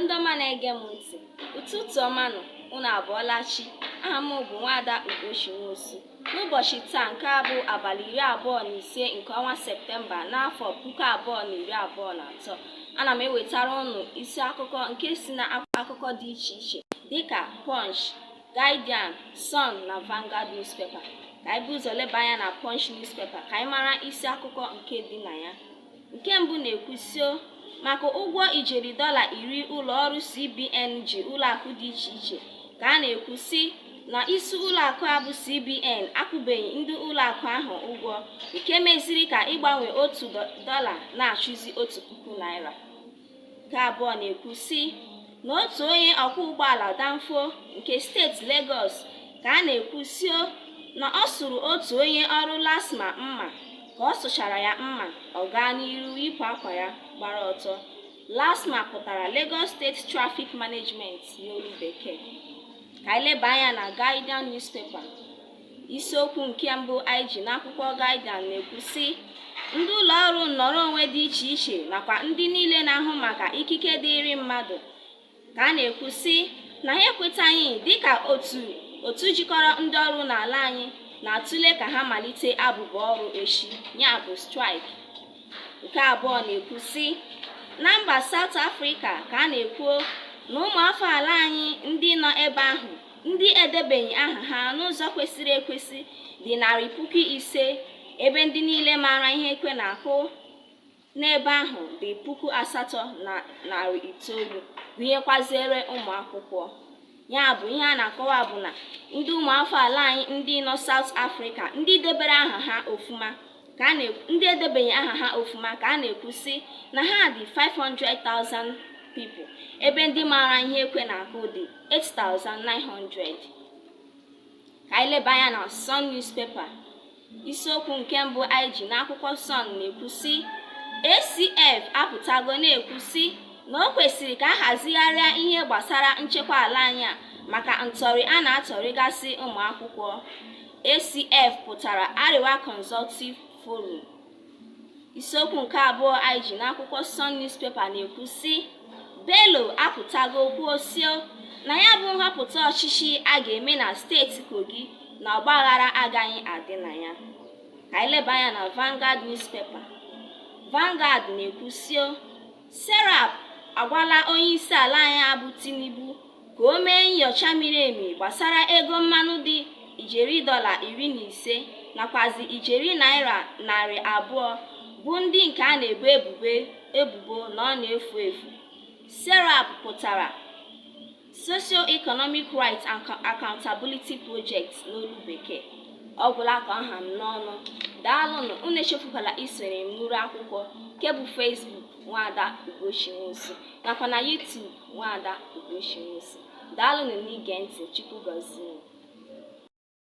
ndị ọma na-ege m ntị ụtụtụ ọma nụ unu abọọla chi aha m bụ nwaada ugochi nwosu n'ụbọchị taa nke a bụ abalị iri abụọ na ise nke ọnwa septemba n'afọ puku abụọ na iri abụọ na atọ ana m ewetara unu isi akụkọ nke si na akụkọ dị iche iche dịka punch guardian sun na vanguard newspaper ka anyị bu ụzọ leba anya na punch newspaper ka anyị mara isi akụkọ nke dị na ya nke mbụ na-ekwu sio maka ụgwọ ijeri dọla iri ụlọ ọrụ CBN ji ụlọakụ dị iche iche ka a na-ekwu sị na isi ụlọakụ a bụ CBN akwụbeghị ndị ụlọakụ ahụ ụgwọ nke meziri ka ịgbanwe otu dọla na-achụzi otu puku naira nke abụọ na-ekwu sị na otu onye ọkwọ ụgbọala danfo nke steeti Legọs ka a na-ekwu sio na ọ sụrụ otu onye ọrụ LASTMA mma ka ọ sụchara ya mma ọ gaa n'iru yipụ akwa ya gbara ọtọ LASTMA pụtara Lagos State Traffic Management n'olu bekee ka anyị leba anya na Guardian newspaper isiokwu nke mbụ anyị ji n'akwụkwọ Guardian na-ekwu sị ndị ụlọ ọrụ nnọrọ onwe dị iche iche nakwa ndị niile na-ahụ maka ikike dịịrị mmadụ ka a na-ekwu sị na ha ekwetaghị dịka otu otu jikọrọ ndị ọrụ n'ala anyị na-atụle ka ha malite abụbọ ọrụ echi ya bụ strike nke abụọ na-ekwu sị na mba South Africa ka a na-ekwu na ụmụafọ ala anyị ndị nọ ebe ahụ ndị edebeghị aha ha n'ụzọ kwesịrị ekwesị dị narị puku ise ebe ndị niile maara ihe ekwe na-akụ n'ebe ahụ dị puku asatọ na narị itoolu gụnyekwaziere ụmụ akwụkwọ ya bụ ihe a na-akọwa bụ na ndị ụmụafọ ala anyị ndị nọ South Africa ndị debere aha ha ofuma ka a na-ekwu ndị edebeghị aha ha ofuma ka a na-ekwu sị na ha dị 500,000 people ebe ndị maara ihe ekwe na-akụ dị 8,900 ka anyị leba anya na Sun newspaper isiokwu nke mbụ anyị ji n'akwụkwọ Sun na-ekwu sị ACF apụtago na-ekwu sị na o kwesịrị ka a hazigharịa ihe gbasara nchekwa ala anyị a maka ntọrị a na-atọrịgasị ụmụ akwụkwọ ACF pụtara Arewa Consultative Forum. Isiokwu nke abụọ anyị ji n'akwụkwọ Sun newspaper na-ekwu sị Bello apụtago kwuo sio na ya bụ nhọpụta ọchịchị a ga-eme na steeti Kogi na ọgbaghara agaghị adị na ya. Ka anyị leba anya na Vanguard newspaper. Vanguard na-ekwu sio SERAP agwala onye isi ala anyị a bụ Tinubu ka o mee nyocha miri emi gbasara ego mmanụ dị ijeri dọla iri na ise nakwazi ijeri naira narị abụọ bụ ndị nke a na-ebo ebubo na ọ na-efu efu serap pụtara socio-economic rights and accountability project n'olu bekee ọ gwụla ka ọ ha m n'ọnụ daalụnụ unu echefukwala isoro m n'iru akwụkwọ nke bụ Facebook nwaada Ugochi Nwosu nakwa na YouTube Nwaada Ugochi Nwosu. Daalụnụ n'ige ntị. Chukwu gọzie unu.